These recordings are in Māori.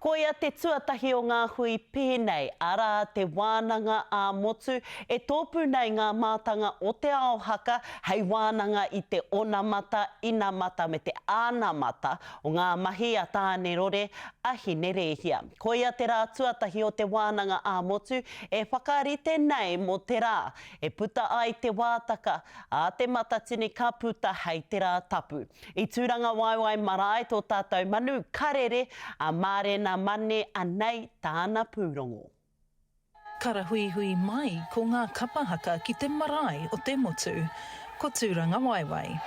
Koia te tuatahi o ngā hui pēnei, arā, te wānanga ā-motu, e tōpū nei ngā mātanga o Te Ao Haka hei wānanga i te onamata, inamata me te anamata o ngā mahi a Tānerore, a Hinerēhia. Koia te rā tuatahi o te wānanga ā-motu e whakarite nei mō te rā e puta ai te wātaka, ā, Te Matatini ka puta hei te Rā Tapu. I Tūrangawaewae marae tō tātou manu karere a Mārena Mane anei tāna pūrongo. Karahuihui mai ko ngā kapa haka ki te marae o te motu, ko Tūrangawaewae.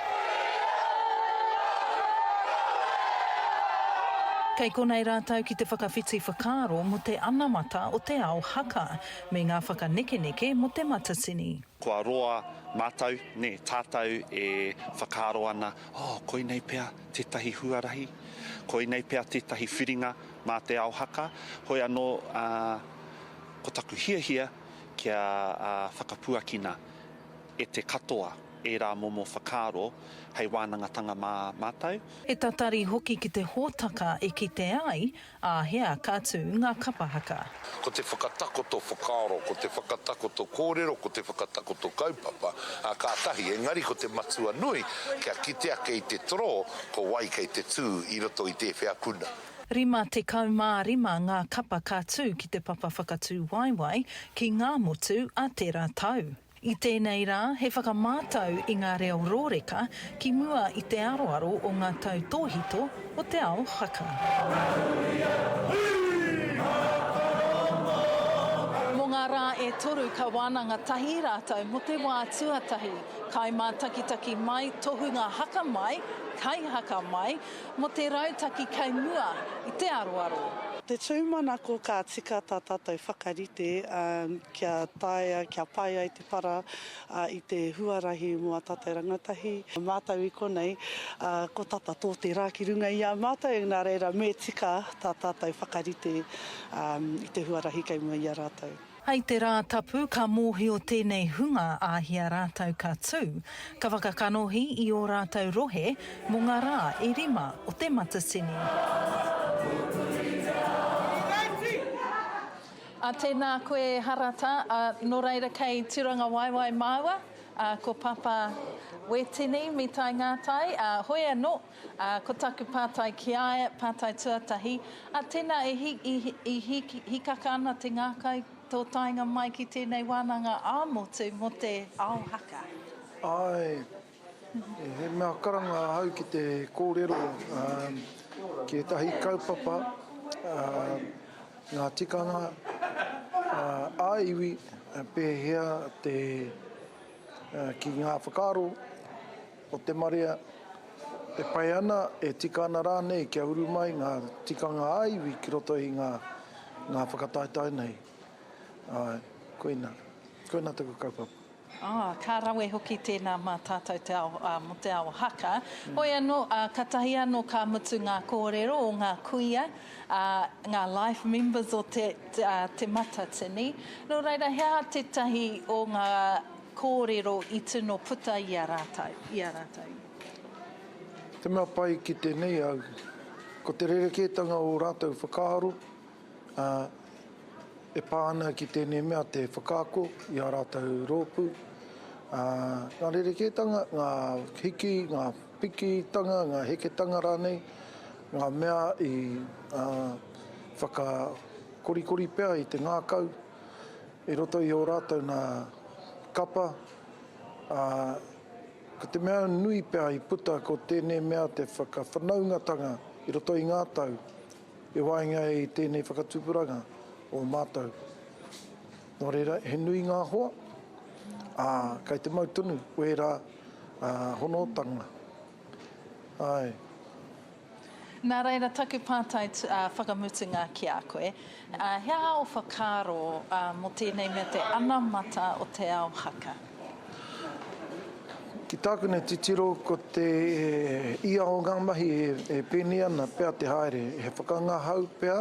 Kei konei rātou ki te whakawhiti whakaaro mō te anamata o te ao haka me ngā whakanekeneke mō te matatini. Kua roa mātou, nē, tātou e whakaaro ana, oh, koinei pea tētahi huarahi, koinei pea tētahi whiringa mā Te Ao Haka, hoi anō, ā, ko taku hiahia kia whakapuakina e te katoa ērā momo whakaaro hei wānangatanga mā mātou. He tatari hoki ki te hōtaka e kite ai Āhea ka tū ngā kapa haka? Ko te whakatakoto whakaaro, ko te whakatakoto kōrero, ko te whakatakoto kaupapa, ā, kātahi, engari ko te matua nui, kia kite ake i te toro, ko wai kei te tū i roto i tēwhea puna. 55 ngā kapa ka tū ki te papa whakatūwaewae ki ngā motu a tērā tau. I tēnei rā, he whakamātau i ngā reo rōreka ki mua i te aroaro o ngā tautōhito o te ao Hakka. Mō ngā rā e toru ka wānanga tahi rātou mō te wā tuatahi, kai mātakitaki mai, tohunga haka mai, kai haka mai, mō te rautaki kei mua i te aroaro. Te tūmanako ka tika tā tātou whakarite, ā. kia taea, kia pai ai te para i te huarahi mō a tātou rangatahi, mātou i konei, ko tata tō te rā ki runga i a mātou, nā reira me tika tā tātou whakarite i te huarahi kei mua i a rātou. Hei te Rātapu ka mōhio tēnei hunga āhia rātou ka tū, ka whakakanohi i ō rātou rohe mō ngā rā e rima o te Matatini. A tēnā koe e Harata, a nō reira kei Turangawaewae māua, a ko Papa Wetini me tae ngā tae, a hoi anō, a ko taku pātai ki a ia, pātai tuatahi, a tēnā e hi, i, i hi, hikaka ana te ngākau tō taenga mai ki tēnei wānanga ā-motu mō te ao haka? Āe. He mea karanga ahau ki te kōrero ki ētahi kaupapa, ngā tikanga ā-iwi, pēhea te ki ngā whakaaro o te marea e pai ana, e tika ana rānei kia uru mai ngā tikanga ā-iwi ki roto i ngā whakataetae nei. Āe, koina. Koina taku kaupapa. Ā, ka rawe hoki tēnā mā tātou te ao, ā, mō te ao haka. Hoi anō, ā, katahi anō ka mutu ngā kōrero o ngā kuia, ā, ngā life members o te, ā, Te Matatini. Nō reira, he aha tētahi o ngā kōrero i tino puta i a rātou, i a rātou? Te mea pai ki tēnei au, ko te rerekētanga o rātou whakaaro, ā, e pā ana ki tēnei mea te whakaako i ā rātou rōpū, ā, ngā rerekētanga, ngā hiki, ngā pikitanga, ngā heketanga rānei, ngā mea i, ā, whakakorikori pea i te ngākau i roto i ō rātou nā kapa, ā, ko te mea nui pea i puta ko tēnei mea te whakawhanaungatanga i roto i ngā tau, I waenga i tēnei whakatupuranga o mātou, nō reira, he nui ngā hoa, ā, kei te mau tonu wērā honotanga. Āe. Nā reira, taku pātai whakamutunga ki a koe, he aha ō whakaaro mō tēnei mea te anamata o Te Ao Haka? Ki tāku nei titiro ko te ia o ngā mahi e pēnei ana pea te haere, he whakangahau pea,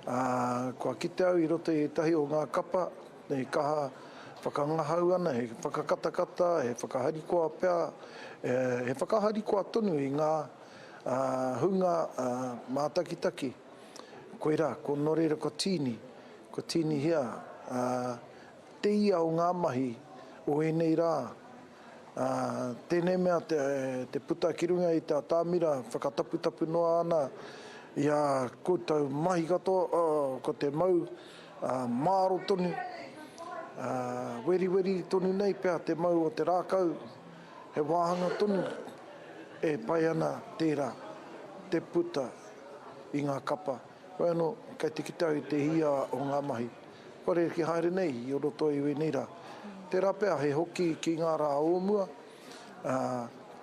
ā, kua kite au i roto i ētahi o ngā kapa e kaha whakangahau ana, he whakakatakata, he whakaharikoa pea, he whakaharikoa tonu i ngā hunga mātakitaki. Koirā, ko Nō reira ko Tīni, ko Tīnihia. Te ia o ngā mahi o ēnei rā, ā, tēnei mea te puta ki runga i te atamira whakataputapu noa ana i ā koutou mahi katoa, ā, ko te mau, ā, māro tonu, ā, weriweri tonu nei pea te mau o te rākau, he wāhanga tonu e pai ana tērā te puta i ngā kapa. Hoi anō, kei te kite au i te hia o ngā mahi kua rerekē haere nei i roto i wēnei rā. Tērā pea he hoki ki ngā rā o mua, ā,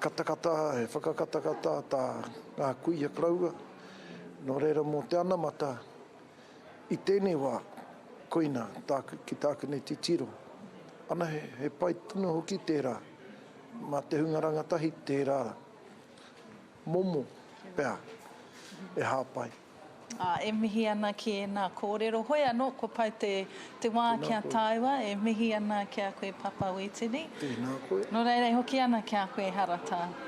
katakata, he whakakatakata tā ngā kuia koroua. Nō reira mō te anamata i tēnei wā, koina tāku ki tāku nei titiro. Anahe, he pai tonu hoki tērā, mā te hunga rangatahi tērā. Momo, pea, e hāpai. Ā, e mihi ana ki ēnā kōrero. Hoi anō, kua pai te, te wā Tēnā kia koe. taua, e mihi ana ki a koe Papa Wītini. Tēnā koe. Nō reira e hoki ana ki a koe Haratā.